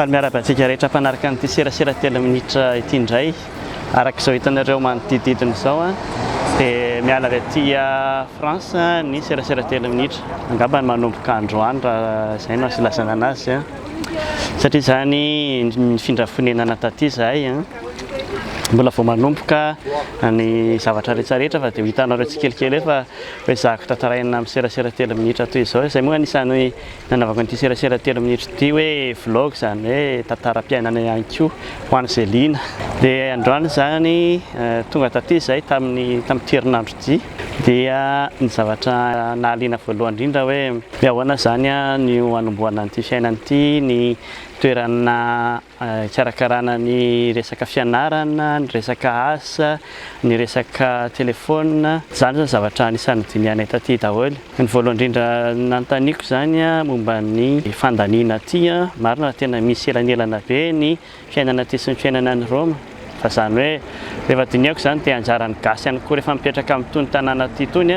Faly miarahaba antsika rehetra mpanaraka an'ity serasera telo minitra ity indray. Araka izao hitanareo manodidididina izao a, dia miala avy aty France ny serasera telo minitra. Angamba ny manomboka androany raha izay no asilazana anazy a. Satria izany nifindra fonenana taty izahay a. Mbola vao manomboka ny zavatra rehetra rehetra fa dia ho hitanareo tsikelikely eo fa Hoe zahako tantaraina amin'ny serasera telo minitra toy izao, izay moa anisan'ny nanaovako an'ity serasera telo minitra ity hoe vlog izany hoe tantaram-piainana ihany koa ho an'izay liana. Dia androany izany tonga taty izahay tamin'ny tamin'ity herinandro ity dia ny zavatra nahaliana voalohany indrindra hoe hoe ahoana izany no hanombohana an'ity fiainana ity, ny toerana Hikarakarana ny resaka fianarana, ny resaka asa, ny resaka telefaonina. Izany izao zavatra anisan'ny nodinihanay taty daholo. Ny voalohany indrindra nanontaniako izany momba ny fandaniana aty. Marina fa tena misy elanelana be ny fiainana aty sy ny fiainana any Roma. Fa izany hoe, rehefa dinihako izany dia anjaran'ny gasy ihany koa rehefa mipetraka amin'itony tanàna ity itony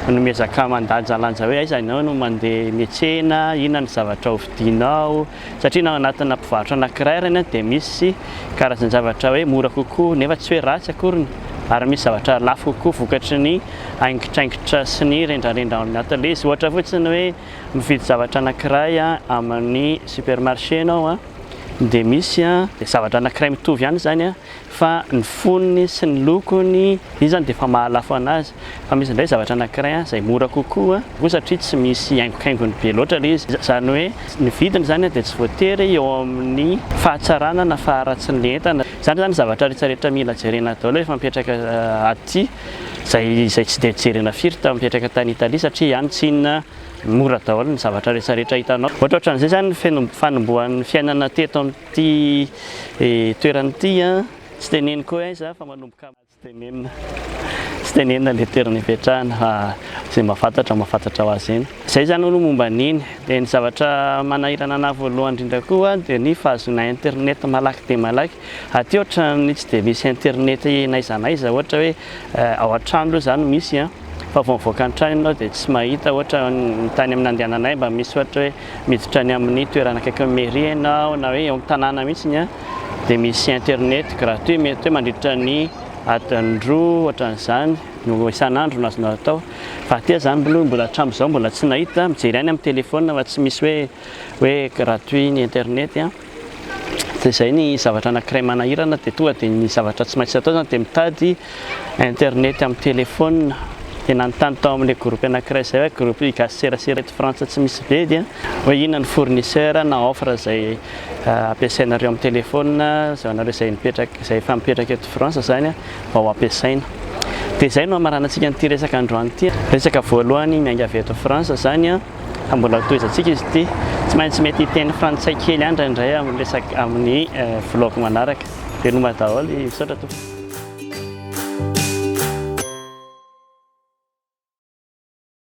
no miezaka mandanjalanja hoe aiza ianao no mandeha miatsena, inona ny zavatra ho vidinao, satria na ao anatina mpivarotra anankiray ary anie dia misy karazan-javatra hoe mora kokoa nefa tsy hoe ratsy akoriny ary misy zavatra lafo kokoa vokatry ny haingitraingitra sy ny rendrarendra ao amin'ny ateliers, ohatra fotsiny hoe mividy zavatra anankiray amin'ny supermarché ianao an! dia misy zavatra anankiray mitovy ihany izany an, fa ny fonony sy ny lokony iny izany dia efa mahalafo an'azy, fa misy indray zavatra anankiray izay mora kokoa koa satria tsy misy haingokaingony be loatra ilay izy, izany hoe ny vidiny izany dia tsy voatery eo amin'ny fahatsarana na faharatsin'ilay entana, izany izany zavatra rehetra rehetra mila jerena daholo rehefa mipetraka aty, izay izay tsy dia jerena firy mipetraka tany Italia satria any tsy inona Mora daholo ny zavatra rehetra rehetra hitanao. Ohatra ohatran'izay izany ny feno fanombohan'ny fiainana teto amin'ity toerana ity an, tsy teneniko hoe aiza fa manomboka amin'ny. Tsy tenenina, tsy tenenina ilay toerana ipetrahana fa izay mahafantatra mahafantatra ho azy eny. Izay izany aloha momba an'iny. Dia ny zavatra manahirana anah voalohany indrindra koa dia ny fahazoana internet malaky dia malaky. Aty ohatran'ny tsy dia misy internet n'aiza n'aiza ohatra hoe ao an-trano aloha izany misy an, fa vao mivoaka ny trano ianao dia tsy mahita ohatra ny tany amin'ny nandehananay mba misy ohatra hoe miditra any amin'ny toerana akaikin'ny mairie ianao na hoe eo amin'ny tanàna mihitsy an dia misy internet gratuit mety hoe mandritra ny adiny roa ohatran'izany no isan'andro no azonao atao fa aty aza aloha mbola hatramin'izao mbola tsy nahita, mijery ihany amin'ny telephone fa tsy misy hoe hoe gratuit ny internet an. dia izay ny zavatra anankiray manahirana dia tonga dia ny zavatra tsy maintsy atao izany dia mitady internet amin'ny telephone dia nanontany tao amin'ilay groupe anankiray izay hoe groupe gasy serasera eto frantsa tsy misy bedy an hoe inona ny fournisseur na offre izay euh, ampiasainareo amin'ny telephone izay anareo izay mipetraka izay efa mipetraka eto frantsa izany an mba ho ampiasaina dia izay no hamaranantsika an'ity resaka androany ity resaka voalohany miainga avy eto frantsa izany an Fa mbola tohizantsika izy ity. Tsy maintsy mety hiteny frantsay kely ihany indraindray amin'ny resak amin'ny vlog manaraka. Veloma daholo, misaotra tompoko.